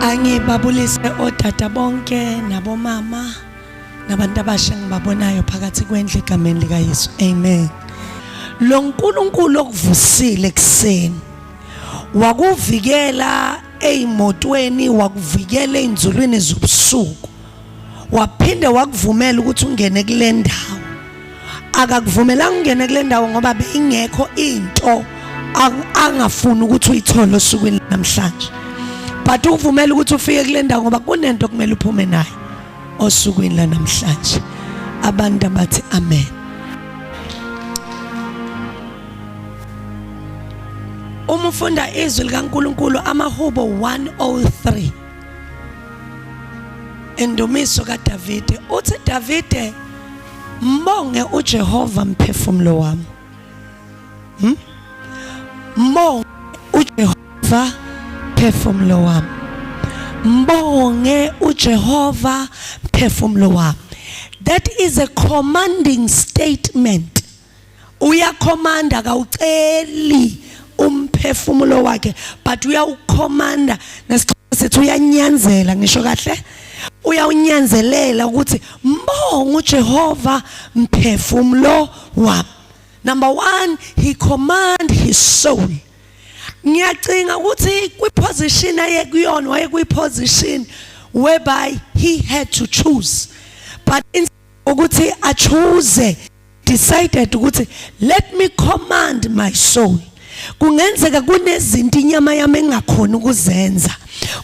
Angibabulise odada bonke nabomama nabantu abasha ngibabonayo phakathi kwendlu egameni likaYesu. Amen. Lo Nkulunkulu okuvusile ekseni wakuvikela ezimotweni wakuvikela ezinzulwini zobusuku waphinde wakuvumela ukuthi ungene kule ndawo akakuvumelanga ungene kule ndawo ngoba beyingekho into angafuni ukuthi uyithole osukwini namhlanje but ukuvumela ukuthi ufike kule ndawo ngoba kunento okumele uphume nayo osukwini lanamhlanje abantu abathi amen uma ufunda izwi likaNkuluNkulu amahubo 103 Indumiso kaDavide uthi Davide mbonge uJehova mphefumulo wami. Hmm? Mbonge uJehova mphefumulo wami. Mbonge uJehova mphefumulo wami. That is a commanding statement. uyakhomanda kawuceli umphefumulo wakhe but uyawukhomanda nesixhobo sethu uyanyanzela ngisho kahle uyawunyanzelela ukuthi mbongo uJehova mphefumulo wami number 1 he command his soul ngiyacinga ukuthi kwi position ayekuyona wayekuyi position whereby he had to choose but ukuthi a choose decided ukuthi let me command my soul kungenzeka kunezinto inyama yami engakhona ukuzenza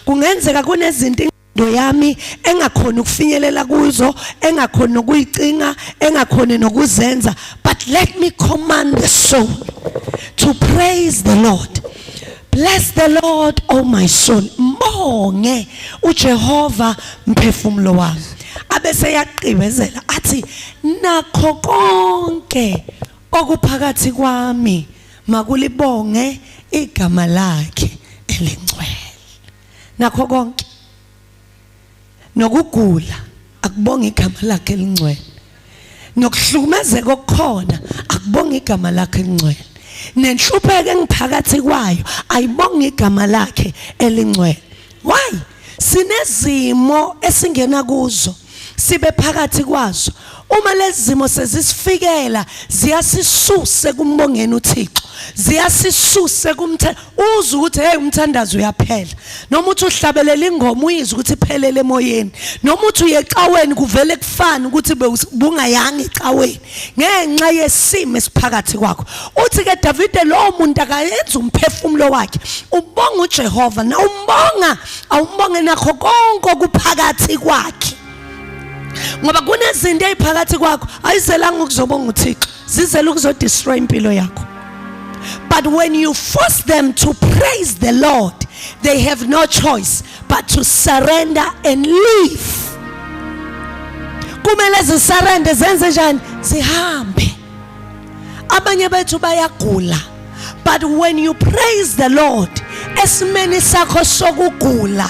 kungenzeka kunezinto ingqondo yami engakhona ukufinyelela kuzo engakhona nokuyicinga engakhona nokuzenza but let me command the soul to praise the lord bless the lord oh my soul mbonge ujehova mphefumulo wami abese yaqibezela athi nakho konke okuphakathi kwami makulibonge igama lakhe elingcwele nakho konke nokugula akubonga igama lakhe elingcwele nokuhlukumezeka okukhona akubonga igama lakhe elingcwele nenhlupheko engiphakathi kwayo ayibonga igama lakhe elingcwele why sinezimo esingena kuzo sibe phakathi kwazo uma lezi zimo sezisifikela ziyasisuse kumbongeni uThixo ziyasisuse kumthe uza ukuthi hey umthandazo uyaphela noma uthi uhlabelela ingoma uyizwa ukuthi iphelele emoyeni noma uthi uyecaweni kuvele kufana ukuthi bungayangi ecaweni ngenxa yesimo esiphakathi kwakho uthi ke Davide lowo muntu akayenza umphefumulo wakhe ubonga uJehova na umbonga awumbonge nakho konke okuphakathi kwakhe ngoba kunezinto eziphakathi kwakho ayizelanga ukuzobonga uThixo zizela ukuzodestroy impilo yakho but when you force them to praise the Lord they have no choice but to surrender and leave kumele zisarende zenze njani zihambe abanye bethu bayagula but when you praise the lord esimeni sakho sokugula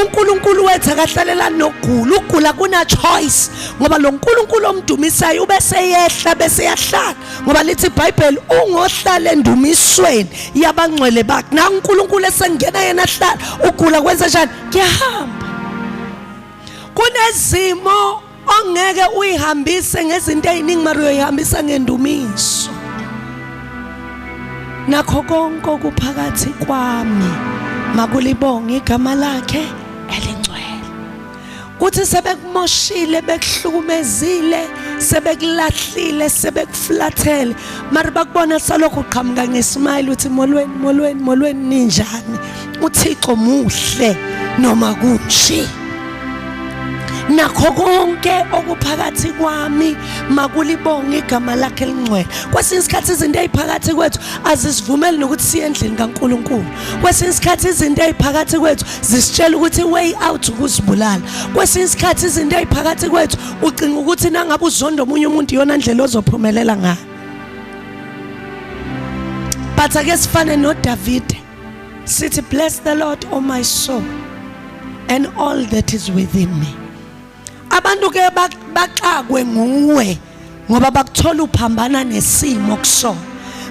uNkulunkulu wethu akahlalelani nokugula ukugula kuna choice ngoba lo nkulunkulu omdumisayo ubese yehla bese yahlala ngoba lithi ibhayibheli ungohlala endumisweni yabangcwele bakhe nangu unkulunkulu esengena yena ahlala ugula kwenza njani kuyahamba kunezimo ongeke uyihambise ngezinto eziningi mara uyoyihambisa ngendumiso nakho konke okuphakathi kwami makulibonge igama lakhe uthi sebekumoshile bekuhlukumezile sebekulahlile sebekuflathele mari bakubona salokhu uqhamuka ngesmile uthi molweni molweni molweni ninjani uthixo muhle noma kunje nakho konke okuphakathi kwami makulibonge igama lakhe elingcwele kwesinye isikhathi izinto eziphakathi kwethu azisivumeli nokuthi siye endlini kaNkuluNkulu kwesinye isikhathi izinto eziphakathi kwethu zisitshela ukuthi i-way out ukuzibulala kwesinye isikhathi izinto eziphakathi kwethu ucinga ukuthi nangabe uzonda omunye umuntu iyona ndlela ozophumelela ngayo but ake sifane nodavide sithi bless the lord o oh my soul and all that is within me abantu ke baxakwe nguwe ngoba bakuthola uphambana nesimo kusona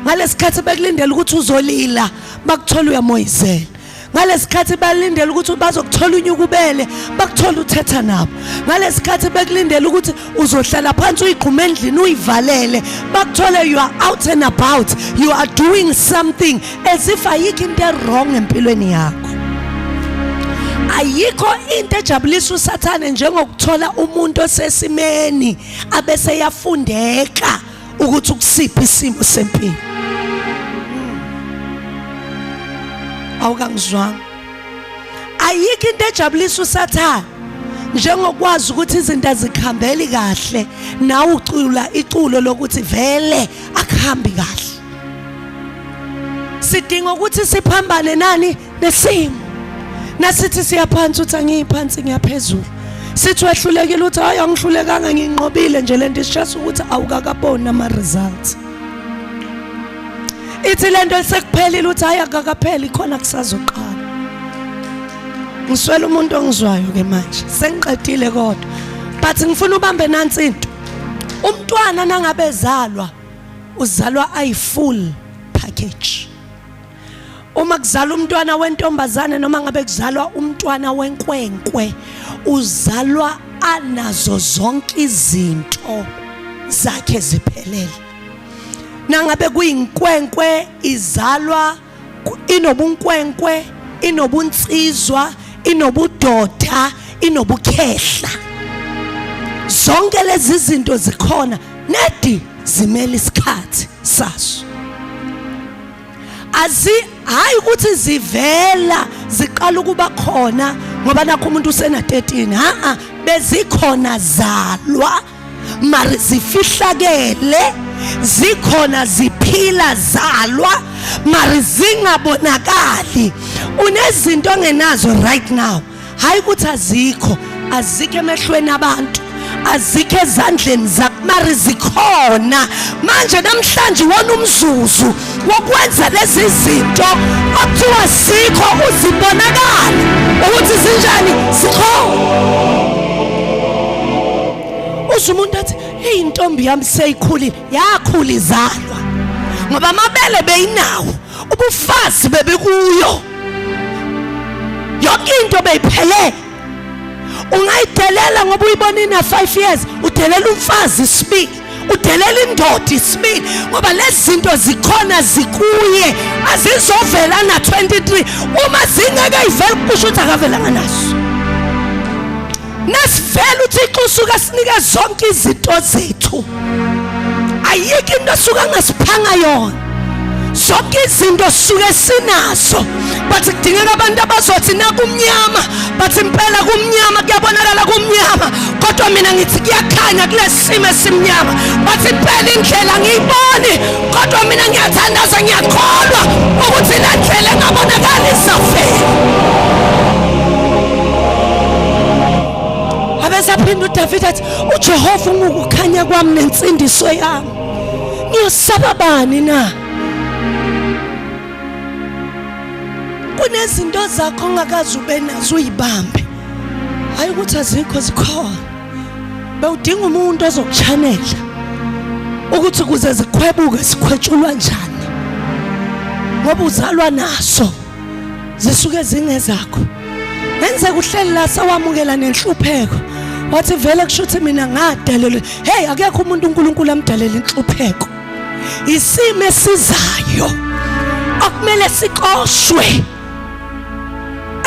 ngalesikhathi bekulindela ukuthi uzolila bakuthola uyamoyizela ngalesikhathi balindele ukuthi bazokuthola unyukubele bakuthola uthetha nabo ngalesikhathi bekulindele ukuthi uzohlala phansi uyigqume endlini uyivalele bakuthola you are out and about you are doing something as if ayikho into ewrong empilweni yakho ayikho into ejabulisa usathane njengokuthola umuntu osesimeni abese yafundeka ukuthi ukusiphi isimo sempilo awukangizwanga ayikho into ejabulisa usathane njengokwazi ukuthi izinto azikhambeli kahle nawe ucula iculo lokuthi vele akuhambi kahle sidinga ukuthi siphambane nani nesimo nasithi siyaphansi uthi angiyiphansi ngiyaphezulu sithi wehlulekile uthi hayi angihlulekanga nginqobile nje lento isishasa ukuthi awukakaboni ama results ithi lento esekuphelile uthi hayi akakapheli khona kusazoqala ngiswela umuntu ongizwayo ke manje sengiqedile kodwa but ngifuna ubambe nansi into umntwana nangabezalwa uzalwa ayi full package uma kuzalwa umntwana wentombazane noma ngabe kuzalwa umntwana wenkwenkwe uzalwa anazo zonke izinto zakhe ziphelele nangabe kuyinkwenkwe izalwa inobunkwenkwe inobunsizwa inobudoda inobukhehla zonke lezi zinto zikhona nedi zimele isikhathi saso azi hayi ukuthi zivela ziqala ukuba khona ngoba nakho umuntu usena 13 ha bezikhona zalwa mari zifihlakele zikhona ziphila zalwa mari zingabonakali unezinto ongenazo right now hayi ukuthi azikho azikho emehlweni abantu azikho ezandleni zakho mari zikhona manje namhlanje wona umzuzu wokwenza lezi zinto okuthiwa sikho uzibonakala ukuthi zinjani sikho usho umuntu athi eyi intombi yami seyikhulile yakhula izalwa ngoba amabele beyinawo ubufazi bebekuyo yonke into beyiphelele ungayidelela ngoba uyibonini na 5 years udelela umfazi isibili udelela indoda isibili ngoba lezi zinto zikhona zikuye azizovela na 23 uma zingeke ivele kusho ukuthi akavelanga naso nasivela uthixo usuke sinike zonke izinto zethu ayikho into esuke angasiphanga yona zonke izinto suke sinazo but kudingeka abantu abazothi nakumnyama but impela kumnyama kuyabonakala kumnyama kodwa mina ngithi kuyakhanya kule simo esimnyama but impela indlela ngiyiboni kodwa mina ngiyathandaza ngiyakholwa ukuthi le ndlela engabonakali izafela abesaphinda udavide athi ujehova ungukukhanya kwami nensindiso yami Niyosaba bani na? Kunezinto zakho ongakazi ube nazo uyibambe. Hayi ukuthi azikho zikhona. Bewudinga umuntu ozokuchanela ukuthi kuze zikhwebuke sikhwetshulwa njani. Ngoba uzalwa naso. zisuke zingezakho enze kuhleli la sawamukela nenhlupheko wathi vele kusho ukuthi mina ngadalelwe hey akekho umuntu uNkulunkulu amdalela inhlupheko isimo esizayo akumele sikoshwe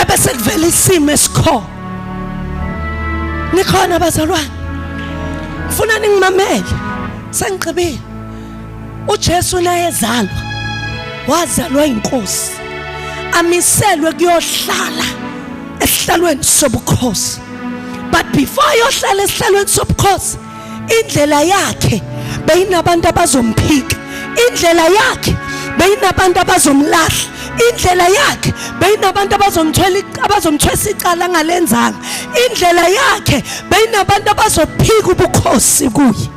ebese kuvela isimo esikhona nikhona bazalwane ngifuna ningimamele sengigqibile uJesu naye ezalwa wazalwa inkosi amiselwe kuyohlala esihlalweni sobukhosi but before ayohlala esihlalweni sobukhosi indlela yakhe beyinabantu abazomphika indlela yakhe beyinabantu abazomlahla indlela yakhe beyinabantu abazomthwela abazomthwesa icala ngalenzanga indlela yakhe beyinabantu abazophika ubukhosi kuye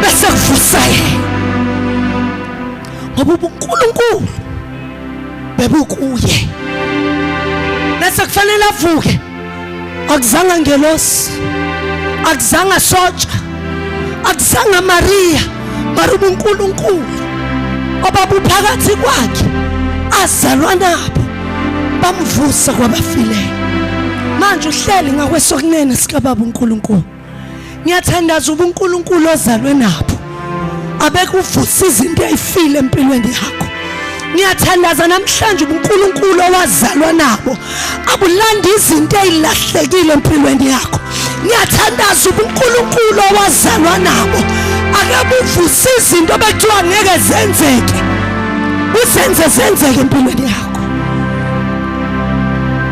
bese kuvusaye ngoba ubunkulunkulu bebukuye bese kufanele avuke akuzanga ngelosi akuzanga sotsha akuzanga mariya mara ubunkulunkulu obabuphakathi kwakhe azalwa nabo bamvusa kwabafileyo manje uhleli ngakwesokunene sikababa unkulunkulu ngiyathandaza ubunkulunkulu ozalwe nabo abekuvusa izinto eyifile empilweni yakho ngiyathandaza namhlanje ubunkulunkulu owazalwa nabo abulanda izinto ezilahlekile empilweni yakho ngiyathandaza ubunkulunkulu owazalwa nabo akabuvusa izinto bekuthiwa ngeke zenzeke uzenze zenzeke empilweni yakho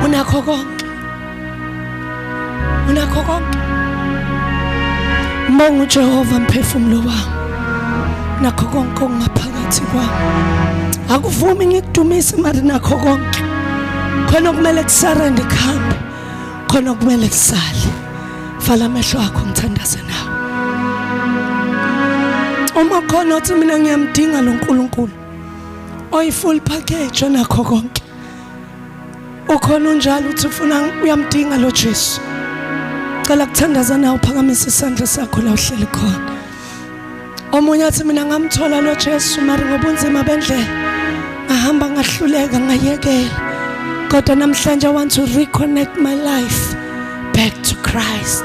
unakho konke unakho konke mbonga uJehova mphefumulo wami nakho konke okungaphakathi kwami akuvumi ngikudumise mari nakho konke khona kumele kusarende kuhambe khona kumele kusale vala amehlo akho ngithandaze nawe uma khona othi mina ngiyamdinga lo Nkulunkulu oyi full package onakho konke ukhona unjalo uthi ufuna uyamdinga lo Jesu cela kuthandaza nawe uphakamise isandla sakho la uhleli khona omunye athi mina ngamthola lo Jesu mari ngobunzima bendlela ngahamba ngahluleka ngayekela kodwa namhlanje i want to reconnect my life back to Christ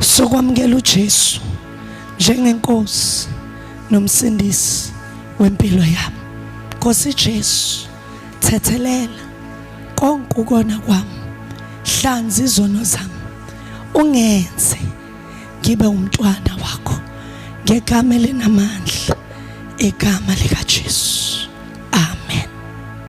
sokwamukela uJesu njengenkosi nomsindisi wempilo yami Nkosi Jesu thethelela konke ukona kwami hlanza izono zami ungenze ngibe umntwana wakho ngegama elinamandla igama likaJesu